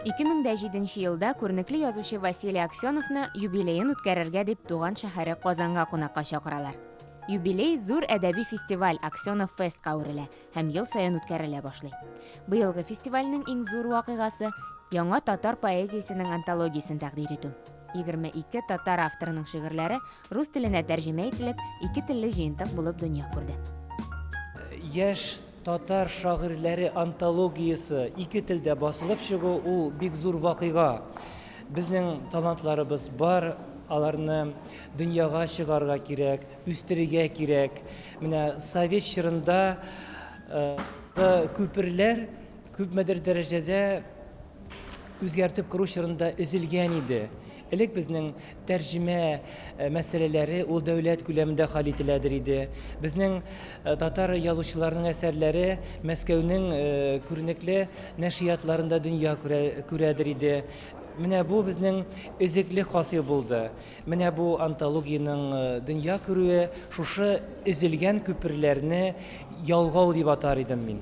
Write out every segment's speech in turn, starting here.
2007 елда күренекле язучы Василий Аксеновны юбилеен үткәрергә дип туган шәһәре Казанга кунакка чакыралар. Юбилей зур әдәби фестиваль Аксенов фестка әверелә һәм ел саен үткәрелә башлый. Быелгы фестивальнең иң зур вакыйгасы яңа татар поэзиясенең антологиясен тәкъдир итү. 22 татар авторының шигырьләре Рус теленә тәрҗемә ителеп, ике телле җыентык булып дөнья күрде. Яшь татар шагыйрьләре антологиясе ике телдә басылып чыгу, ул бик зур вакыйга. Безнең талантларыбыз бар, аларны дөньяга чыгарга кирәк, үстерергә кирәк. Менә совет чорында күперләр күпмедер дәрәҗәдә үзгәртеп кору чорында өзелгән иде. Элек безнең тәрҗемә мәсьәләләре ул дәүләт күләмендә хәл ителәдер иде. Безнең татар язучыларының әсәрләре Мәскәүнең күренекле нәшриятларында дөнья күрәдер иде. Менә бу безнең өзеклек хасил булды. Менә бу антологиянең дөнья күрүе шушы өзелгән күперләрне ялгау дип атар идем мин.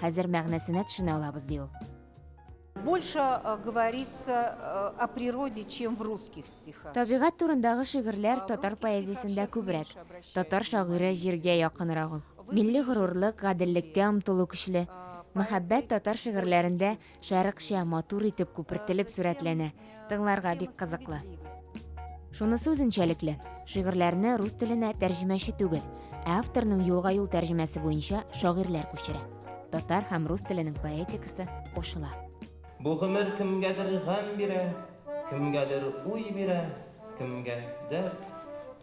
Хәзер мәгънәсенә төшенә алабыз, ди ул. Больше э, говорится э, о природе, чем в русских стихах. Табигать турындагы шигырьләр татар поэзиясендә күбрәк. Татар шагыйре җиргә якынрак ул. Милли горурлык, гаделлеккә омтылу көчле. Мәхәббәт татар шигырьләрендә Шәрыкча, матур итеп күпертелеп сурәтләнә. Тыңларга бик кызыклы. Шунысы үзенчәлекле. Шигырьләрне рус теленә тәрҗемәче түгел, ә авторның юлга-юл тәрҗемәсе буенча шагыйрьләр күчерә. Татар һәм рус теленең поэтикасы кушыла. Бу гомер кемгәдер гамь бирә, кемгәдер уй бирә, кемгә дәрт.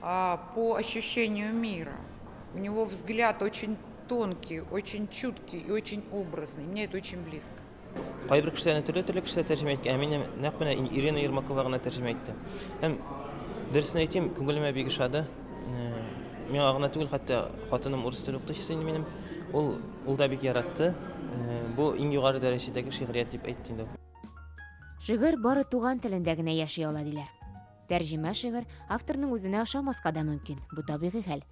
А по ощущению мира. У него взгляд очень тонкий, очень чуткий и очень образный. Мне это очень близко. Кайбер кешеләрне төрле төрле кешеләр тәрҗемә иткән, ә мине нәкъ менә Ирина Ермакова гына тәрҗемә итте. Һәм дөресен әйтим, күңелемә бик ошады. Э, миңа гына түгел, хәтта хатыным урыс теле укытучысы инде минем. Ул ул да бик яратты. Э, бу иң югары дәрәҗәдәге шигърият дип әйтте инде. Шигырь бары туган телендә генә яши ала диләр. Тәрҗемә шигырь авторның үзенә ошамаска да мөмкин, бу табигый хәл.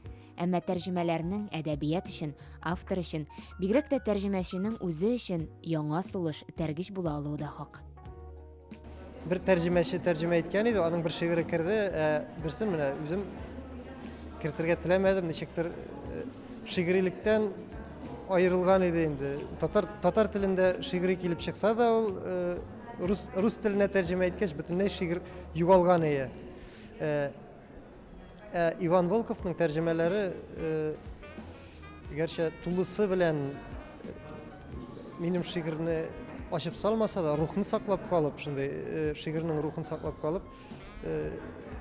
Әмма тәрҗемәләрнең әдәбият өчен, автор өчен, бигрәк тә тәрҗемәченең үзе өчен яңа сулыш, этәргеч була алуы да хак. Бер тәрҗемәче тәрҗемә иткән иде, аның бер шигыре керде, ә берсен менә үзем кертергә теләмәдем, ничектер э, шигырилектән аерылган иде инде. Татар татар телендә шигыри килеп чыкса да ул э, Рус, рус теленә тәрҗемә иткәч, бөтенләй шигырь югалган ие. Ә, ә Иван Волковның тәрҗемәләре, ә, гәрчә тулысы белән э, минем шигырьне ачып салмаса да, рухны саклап калып, шундый э, шигырьнең рухын саклап калып, э,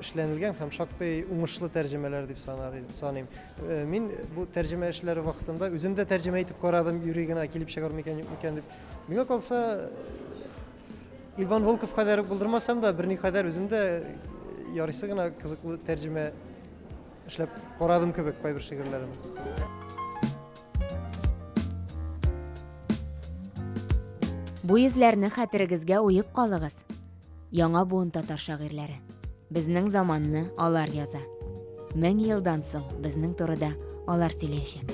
эшләнелгән һәм шактый уңышлы тәрҗемәләр дип санар идем, саныйм. Мин бу тәрҗемә эшләре вакытында үзем дә тәрҗемә итеп карадым, юри генә килеп чыгар микән, юк микән дип, Миңа калса, Иван Волков кадәр булдырмасам да, берни кадәр үзем дә ярыйсы гына кызыклы тәрҗемә эшләп карадым кебек кайбер шигырьләрен. Бу йөзләрне хәтерегезгә уеп калыгыз. Яңа буын татар шагыйрьләре. Безнең заманны алар яза. Мең елдан соң безнең турыда алар сөйләячәк.